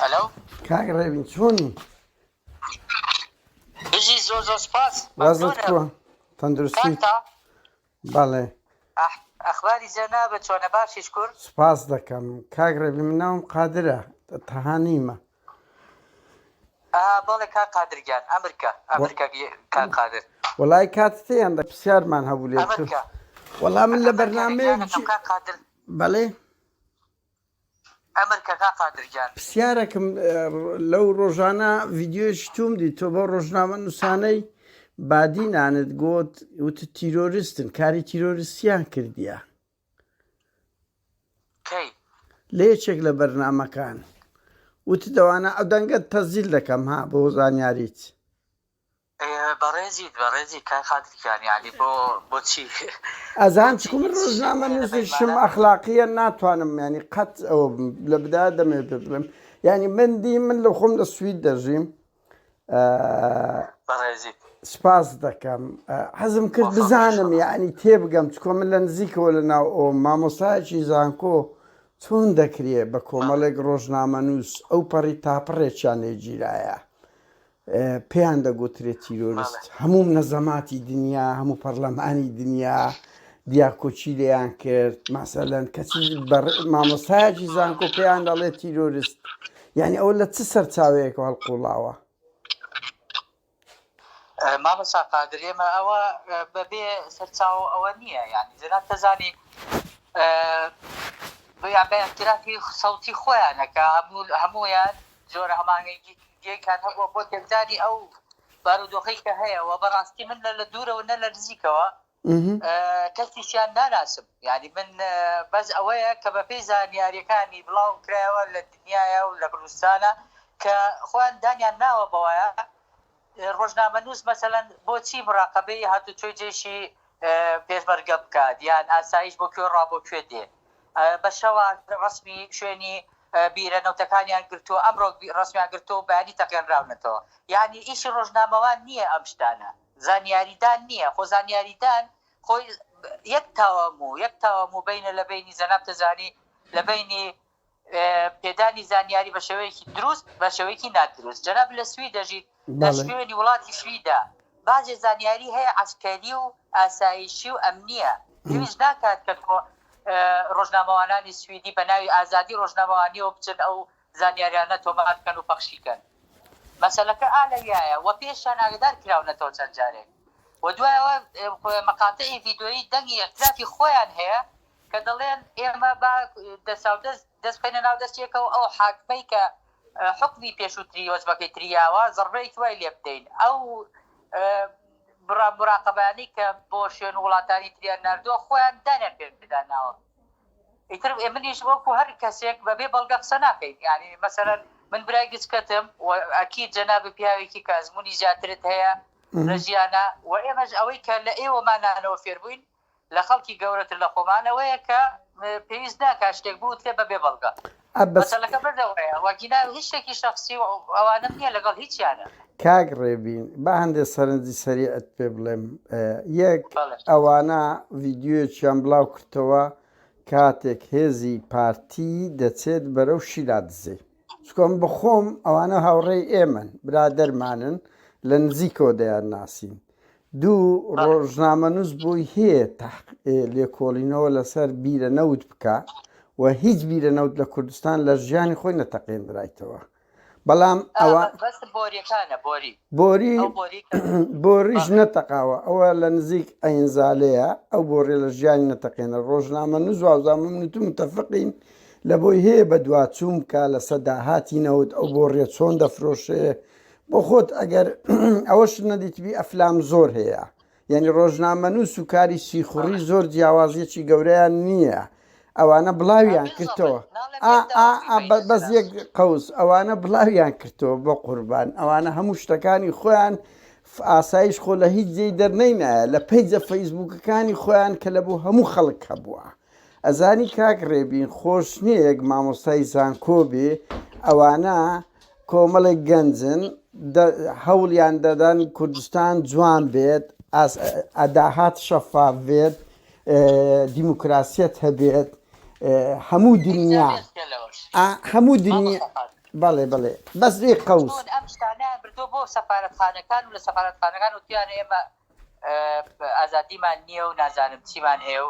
هەلو کاک ڕێبین چۆنی بژی زۆر زۆر سپاس وازت کووە تەندروستی بەڵێ ئەخباری جەنا بە چۆنە باشیش کورد سپاس دەکەم کاک ڕێبی مناوم قادرە تەهانیمە بەڵێ کاک قادر گیان ئەمر کە ئەمر کە کاک قادر. وەڵای کاتت هەیە ئەمڕۆ پرسیارمان هەبوو لێت ئەمر کە وەڵا من لە بەرنامەیەک گیانەکەم جی کاک قادر بەڵێ ئەمر کە کاک قادر گیان. پرسیارەکم لەو ڕۆژانە ڤیدیۆیەکی توم دی تۆ بەو ڕۆژنامە نووسانەی بادینانت گوت وتت تیرۆرستن کاری تیرۆرستیان کردیە کەی. لە یەکێک لە بەرنامەکان وت دەوانە ئە دەنگەت تەزیل دەکەم ها بۆ زانیاریت. بەڕێزیت بەڕێزی کاک قادر گیان یانی بۆ بۆچی. ئەزان چکو من ڕۆژنامە نوسیشم ئەخلاقیە ناتوانم یانی قەت ئەوە بم لە بدایە دەمەوێت پێت بڵێم یانی من دی من لە خۆم لە سوید دەژیم سپاس دەکەم حەزم کرد بزانم یعنی تێبگەم چکۆ من لە نزیکەوە لە ناو ئەو مامۆستایکی زانکۆ چۆن دەکرێ بە کۆمەڵێک ڕۆژنامە نووس ئەو پەڕی تاپڕێکیان لێگیرایە پێیان دەگوترێت تیرۆریست هەموو نەزەماتی دنیا هەموو پەرلەمانی دنیا دیاکۆچی لێیان کرد ماسەلەن کەچی مامۆستایکی زانکۆ پێیان دەڵێت تیرۆریست یانی ئەوە لە چ سەرچاوەیەکەوە هەڵقوڵاوە؟ مامۆستا قادر ئێمە ئەوە بەبێ سەرچاوە ئەوە نییە یعنی جەناب تەزانی بە اعترافی سەوتی خۆیانەکە هەمویان جۆرە هەمانگەیکان هەبووە بۆ تێکدانی ئەو بارودۆخی کە هەیە و بەڕاستی من لە لە دوورەوە نە لە نزیکەوە کەسیشیان ناناسم یانی من بەس ئەوەیە کە بە پێی زانیاریەکانی بڵاو کرایەوە لە دنیاە و لە کوردستانە کە خۆیان دانیان ناوە بەوەیە ڕۆژنامە نووس مەسەەن بۆچی مراقبەی هاتو توی جێشی پێشمەرگە بکات یان ئاسایش بۆ کوێ ڕابۆ کوێ دێ بە شەوە ڕسمی شوێنی بیرە نەوتەکانیان گرتو ئەمڕۆ ڕسمیان گرتو بەیانی تەقێنراونەتەوە یعنی ئیشی ڕۆژنامەوان نییە ئەم شتانە زانیاریدان نییە، خۆ زانیاریدان خۆی یەک تاوان بوو، یەک تاوان بوو بەینە لە بەینی جەناب تەجانی لە بەینی پێدانی زانیاری بە شێوەیەکی دروست بە شێوەیەکی نادروست. جەناب لە سوید دەژیت، لە شوێنی وڵاتی سویدە باجێ زانیاری هەیە عەسکەری و ئاسایشی و ئەمنییە، پێویست ناکات کە ڕۆژنامەوانانی سویدی بە ناوی ئازادی ڕۆژنامەوانییەوە بچن ئەو زانیاریانە تۆمار بکەن و پەخشی کەن مەسەلەکە ئا لەویایە وە پێشیان ئاگەدار کراونەتەوە چەند جارێک وە دوای ئەوە مەقاتعی ڤیدۆیی دەنگی ئیعترافی خۆیان هەیە کە دەڵێن ئێمە با دەساودەست دەست بخەینە ناو دەستی یەکەوە ئەو حاکمەی کە حوکمی پێشوتری وەجبەکەی تری یاوە زەڕبەیەکی وای لێ بدەین ئەو مراقەبانەی کە بۆ شوێن وڵاتانی تریان ناردووە خۆیان دانیان پێدا ناوە. ئیتر منیش وەکو هەر کەسێک بەبێ بەڵگە قسە ناکەین یانی مەسەلەن من برای گچکەتم و ئەکید جەنابت پیاوێکی کە ئەزمونی زیاترت هەیە لە ژیانا و ئێمەش ئەوەی کە لە ئێوەمانانەوە فێربووین لە خەڵکی گەورەتر لە خۆمان ئەوەیە کە پێویست ناکا شتێک بوترێ بەبێ بەڵگە. عەبەس. مەتەڵەکە بردەوەیە وەگینا هیچ شتێکی شەخسی و ئەوانەم نیە لەگەڵ هیچیانا. کاک ڕێبین با هەندێ سەرنجی سەریعت پێ بڵێم یەک ئەوانە ڤیدیۆیەکیان بڵاو کردتەوە کاتێک هێزی پارتی دەچێت بەرەو شیلا دزێ چکۆ من بەخۆم ئەوانە هاوڕێی ئێمەن برادەرمانن لە نزیکەوە دەیان ناسین دوو ڕۆژنامەنووس بۆی هەیە لێکۆڵینەوە لەسەر بیرە نەوت بکە و هیچ بیرە نەوت لە کوردستان لە ژیانی خۆی نەتەقێنرایتەوە بەڵام ئەوە بۆری بۆریش نەتەقاوە ئەوە لە نزیک ئەینزالەیە ئەو بۆڕێ لە ژیانی نەتەقێنە ڕۆژنامە نوزوازامم نوت متەفقین لە بۆی هەیە بە دواچووم کا لە سەداهاتی نەوت ئەو بۆ ڕێ چۆن دەفرۆشێ بۆ خۆت ئەگەر ئەوەش نەدیتبی ئەفلام زۆر هەیە یعنی ڕۆژنامەنووس و کاری سیخوڕی زۆر جیاوازیەکی گەورەیان نییە ئەوانە بڵاویان کردەوە بەس یەک قوس ئەوانە بڵاویان کردەوە بۆ قوربان ئەوانە هەموو شتەکانی خۆیان ئاسایش خۆ لە هیچ جێی دەرنەینایە لە پیجە فەیسبوکەکانی خۆیان کە لە بۆ هەموو خەڵک هەبووە ئەزانی کاک ڕێبین خۆش نییە یەک مامۆستای زانکۆ بێ ئەوانە کۆمەڵێک گەنجن هەوڵیان دەدەن کوردستان جوان بێت ئەداهات شەفاف بێت دیموکراسیت هەبێت هەموو دنیا هەموو دنیا بەڵێ بڵێ بەس لێ قوس ئەم شتانە بردو بۆ سەفاەتخانەکان و لە سەفاەتخانەکان و تویانە ئێمە ئازادیمان نییە و نازانم چیمان هەیە و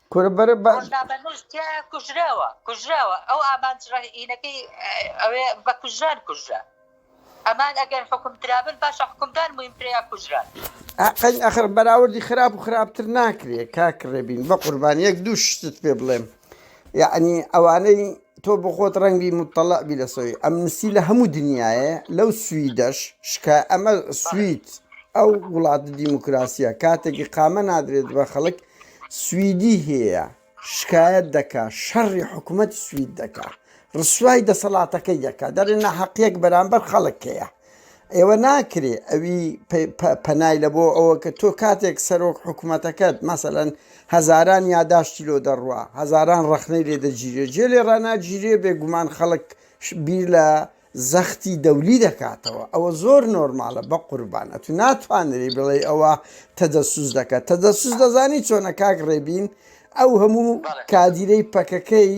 کورە بەرە با ڕۆژنا بەهشت تیایە کوژراوە کوژراوە ئەو ئامانج ڕەهینەکەی ئەوێ بە کوژران کوژرا ئەمان ئەگەر حکم درابن باشە حکمدان مویم ترەیە کوژران ئەقەین ئەخر بەراوردی خراپ و خراپتر ناکرێت کاک ڕێبین بە قوربان یەک دوو شتت پێ بڵێم یعنی ئەوانەی تۆ بخۆت ڕەنگی مطلع بی لە سۆی ئەم نسی لە هەموو دنیاە لەو سویدەش شکا ئەمە سوید ئەو وڵات دیموکراسیە کاتێکی قامە نادرێت بە خەڵک سویدی هەیە شکایەت دەکا شەڕی حکومەتی سوید دەکا ڕسوای دەسەڵاتەکەی دەکا دەرێ ناحەقیەک بەرامبەر خەڵک هەیە ئێوە ناکرێ ئەوی پەنای لە بۆ ئەوە کە تۆ کاتێک سەرۆک حکوومەتەکەت مەسەەن هەزاران یاداشتی لۆ دەڕوە هەزاران ڕخنەی لێ دەگیرێ جێ لێ ڕناگیرێ بێگومان خەڵک بیر لە زەختی دەولی دەکاتەوە ئەوە زۆر نۆرمالە بەقوربان ئەتو ناتوانری بڵێی ئەوە تەدەسوس دەکە تەدەسوس دەزانی چۆنە کاک ڕێبین ئەو هەموو کادیرەی پەکەکەی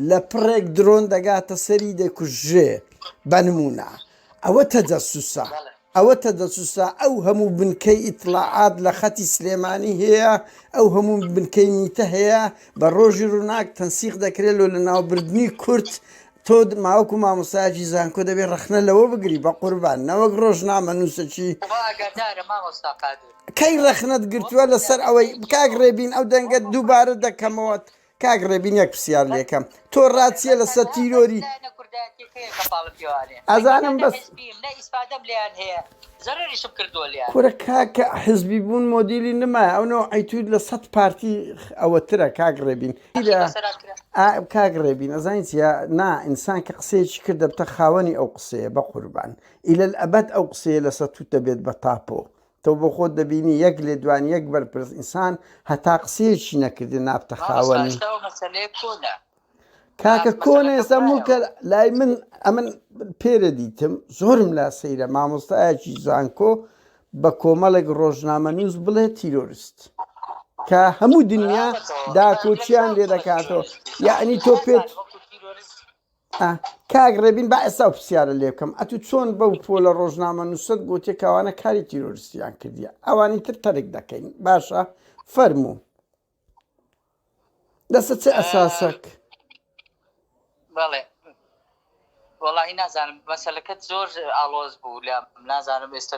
لە پڕێک درۆن دەگاتە سەری دەکوژێ بەنمونە ئەوە تەجەسوسە ئەوەتە دەسوسا ئەو هەموو بنکەی ئیتڵاعات لە خەتی سلێمانی هەیە، ئەو هەموو بنکەی میتە هەیە، بە ڕۆژی ڕووناک تەنسیق دەکرێ لۆ لەناوبردنی کورد، تۆ ماوەکو مامۆستایەکی زانکۆ دەبێ ڕەخنە لەوە بگری بەقوربان نەوەک ڕۆژنامەنووسەکی. خوا ئاگادارە مامۆستا قادر. کەی ڕەخنەت گرتووە لەسەر ئەوەی. کاک ڕێبین ئەو دەنگەت دووبارە دەکەمەوە کاک ڕێبین یەک پرسیار لێکەم تۆ ڕاچیە لەسەر تیرۆری ئەزانم بەس کورە کاکە حزبی بوون مۆدیلی نما ئەونەوە ئەیتود لە سەد پارتی ئەوەترە کاک ڕێبین کاک ڕێبین ئەزانین چە نا ئینسان کە قسەیەکی کرد دەبتە خاوەنی ئەو قسەیە بە قوربان ئیلە ئەبەت ئەو قسەیە لەسەر توت دەبێت بە تاپۆ تۆ بۆ خۆت دەبینی یەک لێدوانی یەک بەرپرس ئینسان هەتا قسەیەکی نەکردی نابتە خاوەنی. کاکە کۆنە ئێستا مڵکە لای من ئەمن پێرە دیتم زۆرم لا سەیرە مامۆستایەکی زانکۆ بە کۆمەڵێک ڕۆژنامە نووس بڵێ تیرۆریست کە هەموو دنیا داکۆچیان لێ دەکاتەوە یعنی تۆ پێت ئا کاک ڕێبین با ئێستا و پرسیارە لێ بکەم ئەتوو چۆن بەو پۆلە ڕۆژنامە نووسەت گوتێ کەوانە کاری تیرۆرستیان کردیە ئەوانی تر تەرک دەکەین باشە فەرموو لەسەر چ ئەساسەک بەڵێ وەڵی نازانم بەسەلەکەت زۆر ئاڵۆز بوو لە نازانم ئێستا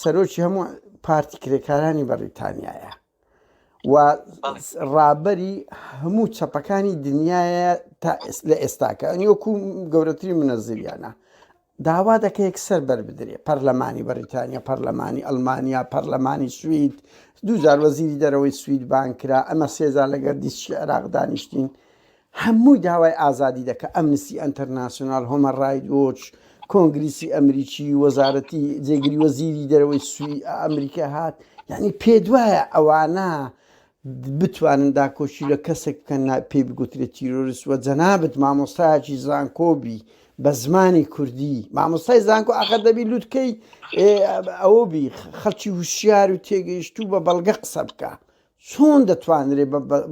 سەرۆکی هەموو پارتی کرێکارانی بەڕیتانیایە و ڕابەری هەموو چەپەکانی دنیاە تا لە ئێستاکە ئەنیۆکو گەورەتری منەزریانە داوا دەکە یەکسەر بربدرێ پەرلەمانی بەریتانیا پەرلەمانی ئەلمانیا پەرلەمانی سوید دوجار وەزیری دەرەوەی سوید بانکرا ئەمە سێزار لەگەر دیسکی عێراق دانیشتین هەمووی داوای ئازادی دەکا، ئەمنستی ئەنتەرناسیۆنال، هۆمەن ڕایت وۆچ، کۆنگریسی ئەمریکی، وەزارەتی، جێگری وەزیری دەرەوەی سوی ئەمریکا هات، یەعنی پێتوایە ئەوانە بتوانن داکۆکی لە کەسێک بکەن نا پێی بگوترێ تیرۆرست وە جەنابت مامۆستایەکی زانکۆ بی بە زمانی کوردی مامۆستای زانکۆ ئاخر دەبی لوتکەی ئەوە بی خەڵکی وشیار و تێگەیشتوو بە بەڵگە قسە بکە چۆن دەتوانرێ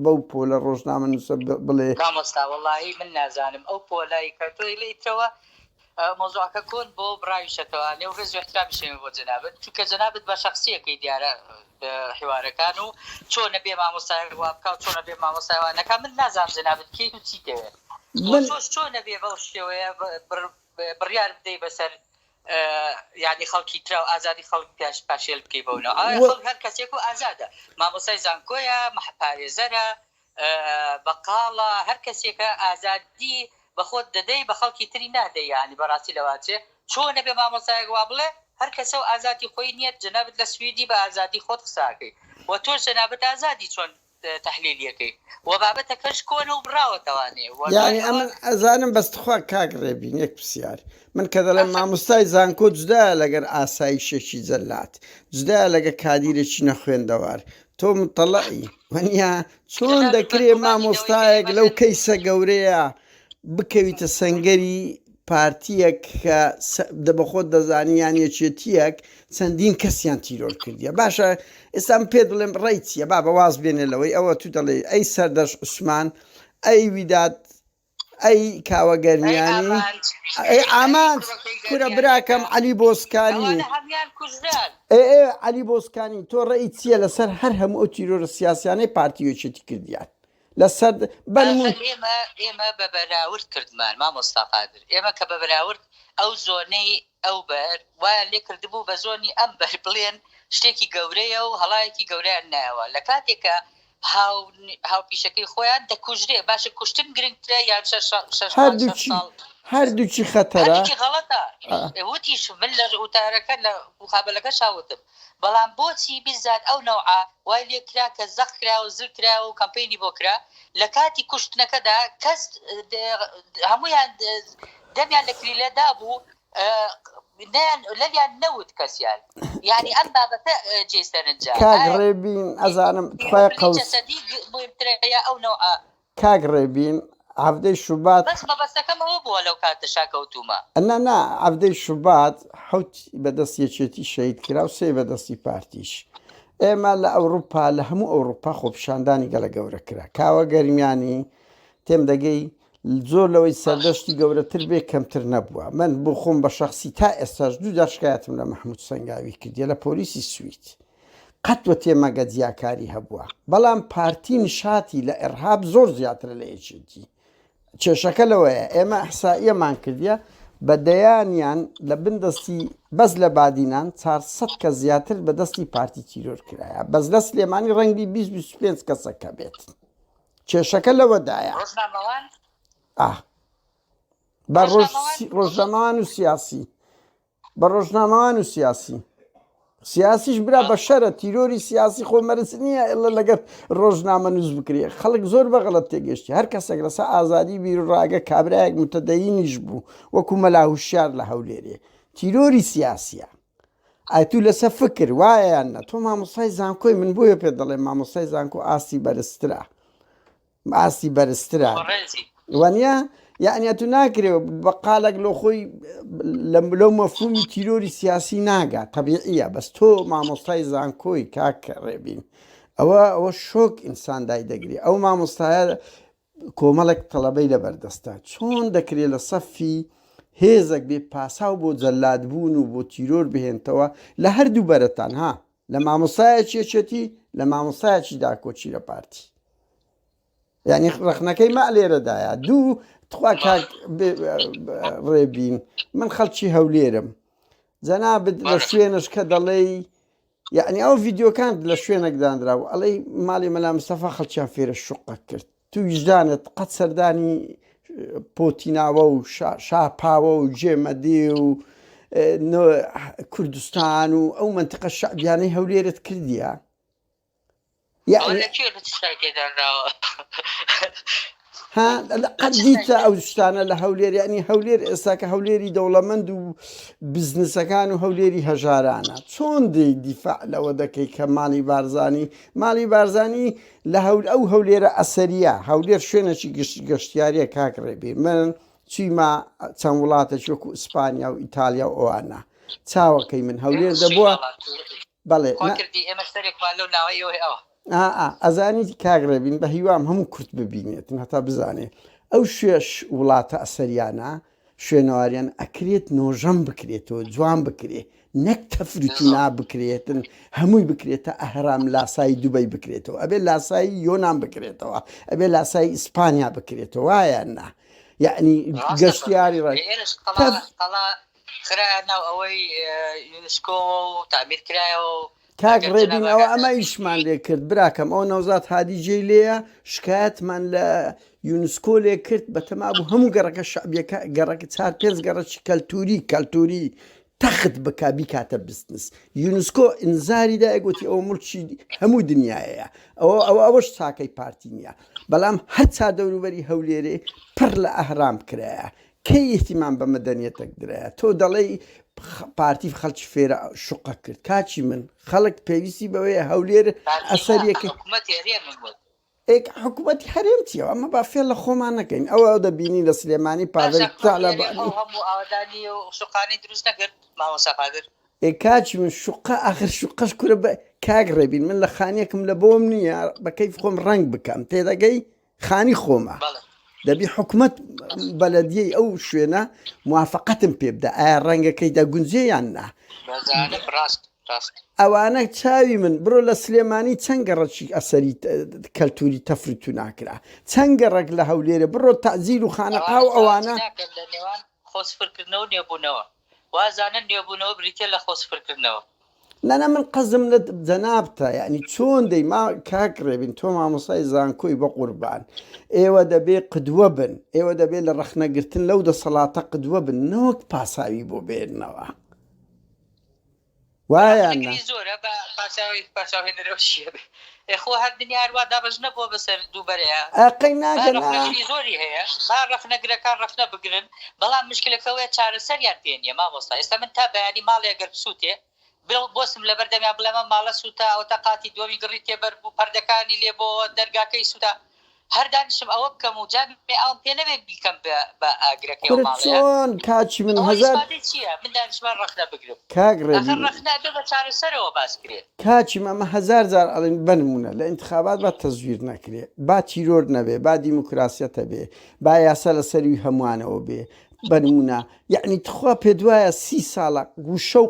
بەو پۆلە ڕۆژنامە نووسە بڵێ. مامۆستا وەڵاهی من نازانم ئەو پۆلەی کە تۆ ئیترەوە مەوزوعەکە کۆن بۆ بڕاویشەتەوە لێو ڕێز وەحترامیشێمە بۆ جەنابت چونکە جەنابت بە شخصیەکەی دیارە حیوارەکان و چۆنە بێ مامۆستای وابکە و چۆنە بێ مامۆستایوانەکە من نازانم جەنابت کیت و چی دەوێت چۆش چۆنە بێ بەو شێوەیە بڕیار بدەی بەسەر یانی خەڵکی تراو ئازادی خەڵک پیاش پاشێل بکەی بەو ناو ئایا خەڵک هەر کەسێک و ئازادە مامۆسای زانکۆیە مەحپارێزەرە بەقاڵە هەر کەسێکە ئازادی بەخۆت دەدەی بە خەڵکی تری نادەی یانی بەڕاستی لەواچێ چۆن نەبێ مامۆسایەک وا بڵێ هەر کەسە و ئازادی خۆی نییە جەنابت لە سویدی بە ئازادی خۆت قساکەی و تۆش جەنابت ئازادی چۆن تەحلیلیەکەی وە بابەتەکەش کۆنە و بڕاوەتەوە نێ وە دوای یانی ئەمن ئەوە ئەزانم بەس تخوا کاک ڕێبین یەک پسیار من کە دەڵێم ئەفە ماموستای زانکۆ جدایە لەگەر ئاسایشێکی جەلاد جدایە لەگە کادیرێکی نەخوێندەوار تۆ متەڵەی وەنیا چۆن جەلاد و دەکرێ بەرگومانی گەورەی مامۆستایەک لەو کەیسە گەورەیە بکەویتە سەنگەری پارتیەک کە دەبەخۆت دەزانی یان یەکێتیەک چەندین کەسیان تیرۆر کردیە باشە ئێستا من پێ دڵێم ڕێی چیە بابە واز بێنێ لەوەی ئەوە تو دەڵێی ئەی سەردەش عوسمان ئەی ویداد ئەی کاوە گەرمیانی ئەی ئامانج کورە براکەم علی بۆسکانی علی بۆسکانی تۆ ڕێی چیە لەسەر هەر هەموو ئەو تیرۆرە سیاسیانەی پارتی وێچێتی کردیان لەسەر بەرم و. ئاخر ئێمە ئێمە بە بەراورد کردمان مامۆستا قادر ئێمە کە بە بەراورد ئەو زۆنەی ئەو بەر وایان لێ کردبوو بە زۆنی ئەم بەر بڵێن شتێکی گەورەیە و هەڵایەکی گەورەیان نایەوە لە کاتێک کە هاو هاوپیشەکەی خۆیان دەکوژرێ باشە کوشتن گرنگترە یان شەش شەش مانگ شەش هەردووکی ساڵ هەردووکی خەتەرە هەردووکی غەڵەتە ئا. وتیش من لە وتارەکە لە موقابەلەکەشا وتم بەڵام بۆچی بیزار ئەو نەوعە وای لێ کرا کە زەق کرایە و زل کرایە و کەمپەینی بۆ کرا لە کاتی کوشتنەکەدا کەس هەموویان دەمیان لە کلیلە دابوو نەیان لەویان نەوت کەسیان یانی ئەم بابەتە جێی سەرنجە کاک ڕێبین ئەزانم تخوای قەوس. جەسەدی مهمترە یا ئەو نەوعە کاک ڕێبین حەڤدەی شوبات. بەس مەبەستەکەم ئەوە بووە لەو کاتەشا کەوتوومە. نا نا حەڤدەی شوبات حەوت بە دەست یەکێتی شەهید کرا و سێ بە دەستی پارتیش. ئێمە لە ئەوروپا لە هەموو ئەوروپا خۆپیشاندانی گەلە گەورە کرا. کاوە گەرمیانی تێم دەگەی زۆر لەوەی سەردەشتی گەورەتر بێ کەمتر نەبووە. من بۆ خۆم بە شەخسی تا ئێستاش دوو جار شکایەتم لە مەحموود سەنگاوی کردیە لە پۆلیسی سوید. قەت و تێمەگە جیاکاری هەبووە بەڵام پارتی نشاتی لە ئێڕهاب زۆر زیاترە لە یەکێتی کێشەکە لەوەیە ئێمە ئەحسائیەمان کردە بە دەیانیان لە بن دەستی بەس لە بادینان 400 کە زیاتر بە دەستی پارتی تیرۆر کرایە بەس لە سلێمانی ڕەنگبی 25 کەسەکە بێت کێشەکە لەوەدایە بە ڕۆژەمان و سیاسی بە ڕۆژنامەوان و سیاسی سیاسیش برا بە شەرە تیرۆری سیاسی خۆ مەرز نییە ئێڵە لەگەر ڕۆژنامە نووس بکرێ خەڵک زۆر بەغڵەت تێگەشتی هەر کەسێک لەسا ئازادی بیرڕاگە کابراایەک متەدەینیش بوو وەکو مەلاهوشار لە هەولێرێ تیرۆری سیاسە ئایتو لەسە فکر وایەیان نە تۆ مامۆسای زانکۆی من بۆیە پێ دەڵێ مامۆسای زانکۆ ئاستی بەرزترە ئاستی بەرزترە وانە یعنی تو ناکرێ بە قالێک لۆ خۆی لەو مەفهومی تیرۆری سیاسی ناگا طبیعە بەس تۆ مامۆستای زانکۆی کاک ڕێبین ئەوە ئەوە شۆک ئینسان دای دەگری ئەو مامۆستایە کۆمەڵێک تەڵەبەی لە بەردەستە چۆن دەکرێت لە سەفی هێزەک بێ پاساو بۆ جەلادبوون و بۆ تیرۆر بهێنتەوە لە هەردوو بەرەتان ها لە مامۆستایەکی یەکێتی لە مامۆستایەکی داکۆکی لە پارتی یعنی ڕخنەکەی ما لێرەدایە دوو تخوا کاک ڕێبین من خەڵکی هەولێرم جەنابت لە شوێنش کە دەڵێ یعنی ئەو ڤیددیوکان لە شوێنێک دانرا و ئەڵەی ماڵی مەلا مسەفا خەڵکیان فێرە شوقە کرد تو ویژدانت قەت سەردانی پۆتیناوە و شاپاوە و جێمەدی و کوردستان و ئەو منتقە شعبیانەی هەولێرت کردیە قەدیتە ئەو شتانە لە هەولێر ینی هەولێر ئێستاکە هەولێری دەوڵەمەند و بزنسەکان و هەولێری هەژارانە چۆن دی دیفاع لەوە دەکەی کە ماڵی بارزانانی ماڵی بارزانانی لە هەول ئەو هەولێرە ئەسەریە هەولێر شوێنەکی گشت گەشتیاریە کاک ڕێبی من چیما چەند وڵاتە شوکو ئیسپانیا و ئیتالیا و ئەوانە چاوەکەی من هەولێر دەبووە بەڵێ ئەزانی کاک ڕێبین بە هیوام هەموو کورت ببینێت هەتا بزانێ ئەو شوێش وڵاتە ئەسەریانە شوێنەواریان ئەکرێت نۆژەن بکرێتەوە جوان بکرێ نەک تەفرو تینا بکرێتن هەمووی بکرێتە ئەهرام لاسایی دوبەی بکرێتەوە ئەبێ لاسایی یۆنان بکرێتەوە ئەبێ لاسایی ئیسپانیا بکرێتەوە وایە نا یعنی ڕاستە گەشتیاری ڕای ئێرش قەڵا تەف قەڵا خرایە ناو ئەوەی یونسکۆوە و تعمیر کرایەوە و کاک ڕێبین ئەوە ئەمە ئیشمان لێ کرد براکەم ئەو نەوزات هادی جێی لێە شکایەتمان لە یونسکۆ لێ کرد بە تەما بوو هەموو گەڕەکە شعبیەکە گەڕەکە چار پێنج گەڕەکی کەلتوری کەلتوری تەخت بک بیکاتە بستنس یونسکۆ ئینزاری دایگوتی ئەو ملکی هەموو دنیاەیە ئەوە ئەوە ئەوەش چاکەی پارتی نیە بەڵام هەرچا دەوروبەری هەولێرێ پڕ لە ئەهرام کرایە کەی ئیهتیمام بە مەدەنیەتەک درایە تۆ دەڵێی پارتی خەڵکی فێرە شوقە کرد کاکی من خەڵک پێویستی بەوەیە هەولێر ئەسەریەکە ئێک حکوومەتی هەرێم چیەوە ئەمە با فێ لە خۆمان نەکەین ئەوە دەبینی لە سلێمانی پاڤل شقانی دروست نەکرد مامۆسا قادر ئێکاچ من شوقا ئاخر شوقەش کورە بە کاک ڕێبین من لە خانیەکم لە بۆم نییە بەکەی خۆم ڕنگ بکەم تێدەگەی خانی خۆمە بەڵێ دەبی حکومەت بەلەدیەی ئەو شوێنە موافقەتم پێ بدە ئایا ڕەنگەکەی دەگونجێ یان نا بەزانم ڕاست ڕاست ئەوانە چاوی من بڕۆ لە سلێمانی چەند گەڕەکی ئەسەری ت- کەلتوری تەفر تو ناکرا چەند گەڕک لە هەولێرە بڕۆ تەزیل و خانەقا و ئەوانە ناکەن لە نێوان خۆ سفرکردنەوە و نێبوونەوە وازانن نوێبوونەوە بریتیە لە خۆ سفر کردنەوە. نانا من قەزم لە جەنابتە یەعنی چۆن دەی ما کاک ڕێبین تۆ مامۆسای زانکۆی بەقوربان ئێوە دەبێ قدوە بن ئێوە دەبێ لە ڕەخنە گرتن لەو دەسەڵاتە قدوە بن نەوەک پاساوی بۆ بێننەوە. وایە یان نا؟ زۆرە بە پاساوی پاساوی نرۆشیە بێ ئێخۆ هەر دنیار وا دابەش نەبووە بەسەر دووبەرەیە ئەقەی ناگەن زۆری هەیە با ڕەخنەگرەکان ڕەخنە بگرن بەڵام مشکلەکەوەیە چارەسەریان پێ نیە مامۆستا ئێستا من تا بەیانی ماڵێ گەر بسووتێ بۆسم لەبەر دەمیا بڵێمە ماڵە سووتا ئەوتە قاتی دووەمی گڕی تێبەر بوو پەردەکانی لێ بۆ دەرگاکەی سووتا هەر دانیشم ئەوە بکەم و جا بێ ئاوم پێ نەبێ بیکەم بە ئاگرەکەی ئەو ماڵەیە؟ کورە چۆن کاکی من هەزار. ئەوە ئیسپاتی چییە من دانیشمە رەخنە بگرم؟ کاک ڕێبین. ئاخر رەخنە ئەبێ بە چارەسەرەوە باس کرێ. کاکی من ئەمە هەزار جار ئەڵێم بە نموونە لە ئینتخابات با تەزویر نەکرێ با تیرۆر نەبێ با دیموکراسیەت هەبێ با یاسا لە سەروی هەمووانەوە بێ بە نموونە یەعنی تخوا پێت وایە سی ساڵە گوشە و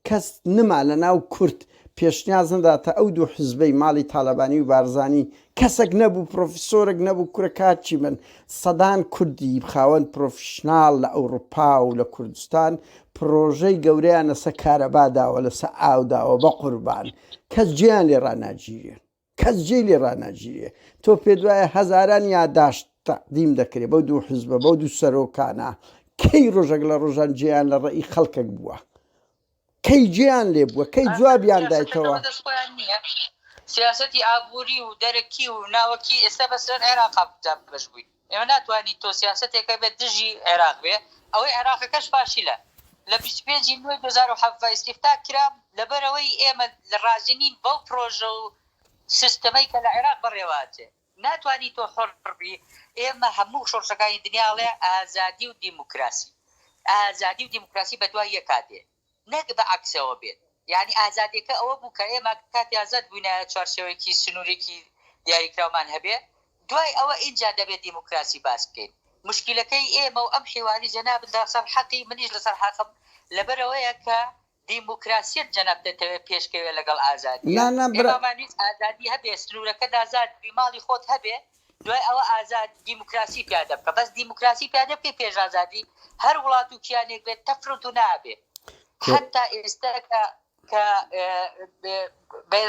کەس نما لە ناو کورد پێشنیاز نداتە ئەو دوو حزبەی ماڵی تالەبانی و بارزانی کەسەک نەبوو پرۆفیسۆرەک نەبوو کورە کار چی بن سەدان کوردی خاوەن پرۆفیشناڵ لە ئەوروپا و لە کوردستان پرۆژەی گەورەیان لەسە کارەبا داوە لەسە ئاو داوە بەقوربان کەس جێیان لێ ڕاناگیرێ. کەس جێی لێ ڕاناگیرێ. تۆ پێت وایە هەزاران یاداشت تەقدیم دەکرێ بەو دوو حزبە، بەو دوو سەرۆکانە، کەی ڕۆژەک لە ڕۆژان جێیان لە ڕێی خەڵکێک بووە؟ کەی جێیان لێ بووە؟ کەی جوابیان دایتەوە؟ سیاسەتی ئابووری و دەرەکی و ناوەکی ئێستا بەسەر عێراقا دابەش بووین. ئێمە ناتوانین تۆ سیاسەتێکە بێت دژی عێراق بێ ئەوەی عێراقەکەش فاشیلە لە بیست و پێنج ی نۆی دوو هەزار و حەڤدە ئیستیفتاح کرا لەبەرئەوەی ئێمە رازی نین بەو پرۆژە و سیستمەی کە لە عێراق بەڕێوە ئەچێ ناتوانی تۆ حۆڕ بی ئێمە هەموو شۆڕشەکانی دنیا ئەڵێ ئازادی و دیموکراسی ئازادی و دیموکراسی بەدوای یەکا دێ. نەک بە عەکسەوە بێت، یانی ئازادیەکە ئەوە بوو کە ئێمە کاتی ئازاد بوینایە چوارچێوەیەکی سنورێکی دیاریکراومان هەبێ، دوای ئەوە ئینجا دەبێ دیموکراسی باس بکەین. مشکیلەکەی ئێمە و ئەم حیواری جەنابت لە سەر حەقی منیش لە سەر حەقم لەبەر ئەوەیە کە دیموکراسیەت جەنابت دەتەوێ پێشکەوێ لەگەڵ ئازادیە، نا نا برا. ئێمامان ویست ئازادی هەبێ سنورەکەت ئازاد بی ماڵی خۆت هەبێ، دوای ئەوە ئازاد دیموکراسی پیادە بکە بەس دیموکراسی پیادە بکەی پێش ئازادی هەر وڵات و کیانێک بێت تەفروت و نابێ حتا ئێستا کە کە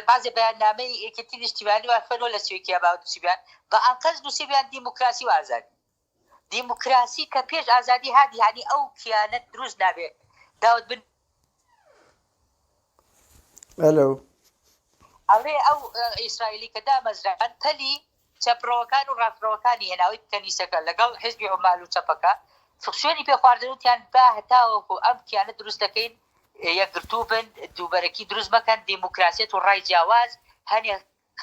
بازێ بەیاننامەی یەکێتی نیشتیمانی وافەرۆ لە سوێکیا باوتسیبیان بە ئەنقەست نووسیبیان دیموکراسی و ئازادی دیموکراسی کە پێش ئازادی هادی هانی ئەو کیانە دروست نابێ داوت بن. ئەلو. ئەڵێ ئەو ئیسرائیلی کە دامەزران پەلی چەپڕەوەکان و ڕاستڕەوەکانی هێناوی کەنیسەکە لەگەڵ حزبی عمال و چەپەکە فکسێنی پێ خواردنوتیان با هەتاوەکو ئەم کیانە دروست دەکەین یەکگرتوو بن دووبەرەکی دروست مەکەن دیموکراسیەت و ڕای جیاواز هەنێ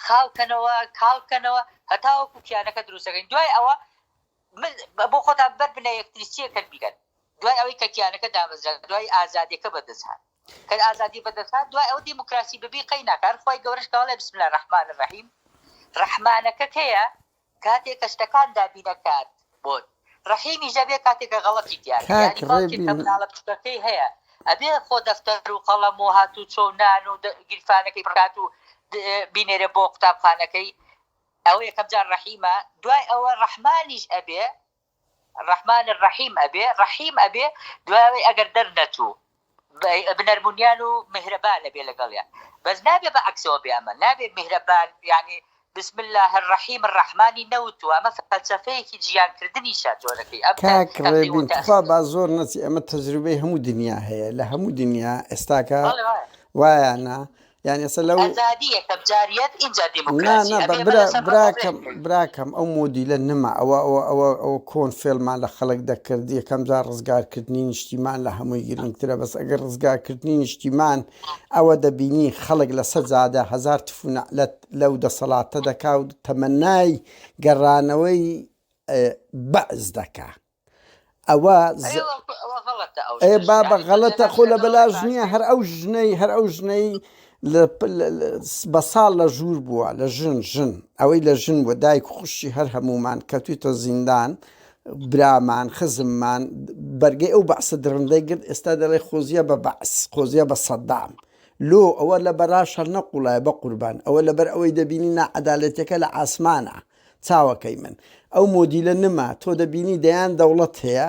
خاو کەنەوە کاڵ کەنەوە هەتاوەکو کیانەکە دروست دەکەین دوای ئەوە بۆ خۆتان بەر بنە یەکتری چیەکەن بیکەن دوای ئەوەی کە کیانەکە دامەزرا دوای ئازادیەکە بەدەستهات کە ئازادی بەدەستهات دوای ئەو دیموکراسی ببی قەی ناکار خۆی گەورەش کەڵێ بسم لە ڕحمان ڕحیم ڕحمانەکە کەیە کاتێ کە شتەکان دابینە کات بۆت. ڕەحیمی ژەبێ کاتێ کە غەڵەتی تیابێ یانی باوکێ کە مناڵە بچوکەکەی هەیە ئەبێ خۆ دەفتەر و قەڵەم و هاتوو چۆ و نان و گیرفانەکەی بکات و بینێرێ بۆ قوتابخانەکەی ئەوە یەکەم جار ڕەحیمە دوای ئەوە ڕەحمانیش ئەبێ ڕەحمان ڕەحیم ئەبێ ڕەحیم ئەبێ دوایەوەی ئەگەر دەرنەچوو بنەرمونیان و میهرەبان ئەبێ لەگەڵیان بەس نابێ بە عەکسەوە بێ ئەمە نابێ میهرەبان یانی بسم اللە الرحیم الرحمانی نەوتوە ئەمە فەلسەفەیەکی جیان کردنیشە جۆرەکەی ئەم کاک ڕێبین تخوا با زۆر نەچی ئەمە تەجروبەی هەموو دنیا هەیە لە هەموو دنیا ئێستاکە وایانە یانی ئەسە لەو ئەزادی یەکەم جاریەت ئینجا دیموکراسی ئەبێ نا نا براکەم براکەم ئەو مۆدیلە نما ئەوە ئەوە ئەوە ئەوە کۆن فێلمان لە خەڵک دەکرد یەکەم جار ڕزگارکردنی نیشتیمان لە هەمووی گرنگترە بەس ئەگەر ڕزگارکردنی نیشتیمان ئەوە دەبینی خەڵک لە سە جادە هزار تفونەلەت لەو دەسەڵاتە دەکاوت تەمەنای گەڕانەوەی بەعز دەکا. ئەوە ئێ بابە غەڵەتە خۆ لە بەلاش نییە هەر ئەو ژنەی هەر ئەو ژنەی بە ساڵ لە ژوور بووە لە ژن ژن ئەوەی لە ژن بووە دایک خوشتی هەر هەمومان کەوتویتە زیندان برامان خزممان بەرگەی ئەو بەعسە درڕندەی گرت ئێستا دەڵێ خۆزیە بە بەعس خۆزیە بە سەددام لۆ ئەوە لە بەراش هەر نەقوڵایە بە قوربان ئەوە لەبەر ئەوەی دەبینی ناعەدالەتەکە لە ئاسمانە چاوەکەی من ئەو مۆدیلە نما تۆ دەبینی دەیان دەوڵەت هەیە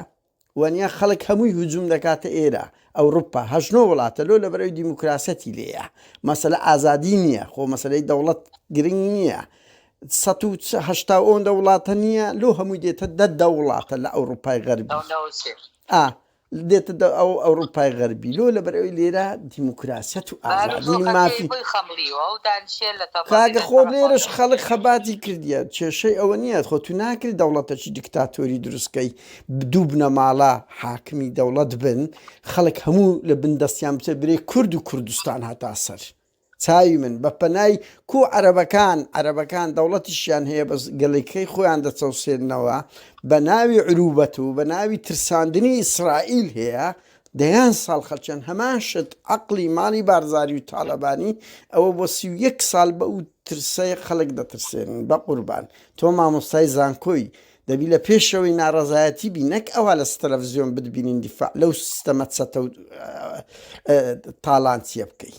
وەنیا خەڵک هەمووی هجوم دەکاتە ئێرە ئەوروپا هەشت نۆ وڵاتە لۆ لەبەرەوی دیموکراسەتی لێە مەسەلە ئازادی نییە خۆ مەسلەی دەوڵەت گرنگ نییە سەد و هەشتا ئەوەندە وڵاتە نییە لۆ هەمووی دێتە دە دە وڵاتە لە ئەوروپای غەربی ئا دێتە دە ئەو ئەوروپای غەربی لۆ لەبەر ئەوی لێرە دیموکراسیەت و ئازادی و مافی کاگە خۆ لێرەش خەڵک خەباتی کردیە کێشەی ئەوە نییە خۆ تو ناکری دەوڵەتەکی دکتاتۆری دروستکەی دوو بنەماڵە حاکمی دەوڵەت بن خەڵک هەموو لە بندەستیان بچە برێ کورد و کوردستان هەتا سەر. چاوی من بە پەنای کو عەرەبەکان عەرەبەکان دەوڵەتیشیان هەیە بەس گەلیکەی خۆیان دەچەوسێننەوە بە ناوی عروبەت و بە ناوی ترساندنی ئیسرائیل هەیە دەیان ساڵ خەلچەن هەمان شت عقلی ماڵی بارزاری و تاالەبانی ئەوە بۆ سی و یەک ساڵ بە و ترسەی خەلک دەترسێنن بە قوربان تۆ مامۆستای زانکۆی دەبی لە پێشەوەی ناڕەزایەتی بی نەک ئەوا لە ستەلەفزیۆن بتبینین دیفاع لەو سیستەمە چەتە و تاڵانچیە بکەی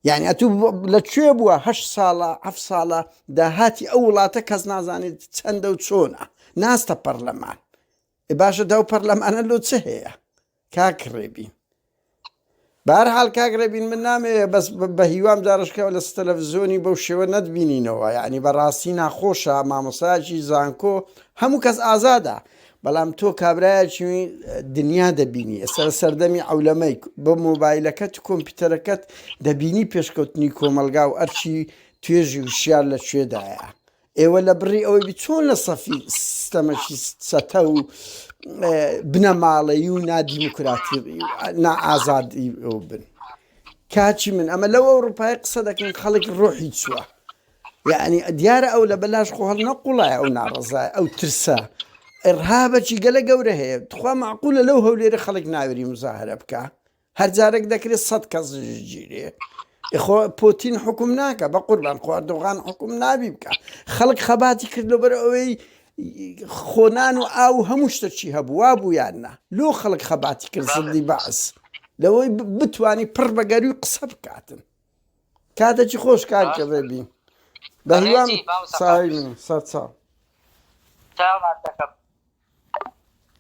یعنی ئەتو لە کوێ بووە هە ساڵە ئەف ساڵە داهاتی ئەو وڵاتە کەس نازانێت چەندە و چۆنە ناستە پەرلەمان باشە داو پەرلەمانە لۆ چ هەیە کاک ڕێبین بار حال کاک ڕێبین من نامێ بەس بە هیوام جارشکەوە لە ستەلەڤزیۆنی بەو شێوە نەتبینینەوە یعنی بەڕاستی ناخۆشە مامۆساجی زانکۆ هەموو کەس ئازادە بەڵام تۆ کابراایکی دنیا دەبینی ئێستا لە سەردەمی ئەولەمەی بە مۆبایلەکەت کۆمپیوتەرەکەت دەبینی پێشکەوتنی کۆمەلگا و ئەرچی توێژی وشار لە شوێدایە ئێوە لە بڕی ئەوەی بی چۆن لە سەفی سستەمەکی چەتە و بنەماڵەی و نادیموکراتی نائازادی بن کاچی من ئەمە لەو ئەوروپای قسە دەکەین خەڵک ڕۆحی چووە یعنی دیارە ئەو لە بەلاش خۆ هەڵ نەقوڵای ئەو ناڕزای ئەو ترسە ڕهابەکی گەلە گەورە هەیە تخوا معقولە لەو هەولێرە خەڵک ناوێری مزاهرە بکە هەر جارەک دەکرێت سەد کەس ژگیرێ خۆ پۆتین حکوم ناکە بە قوربان خواردۆغان حکوم نابی بکە خەڵک خەباتی کردو بەر ئەوەی خۆنان و ئاو هەموو شتەکی هەبووە بوویان نا لۆ خەڵک خەباتی کرد زڵی بەعس لەوەی بتانی پڕ بەگەروی قسە بکاتن کاتەکی خۆش کار کردێ بین بەهیوام ساوی سەر چاو.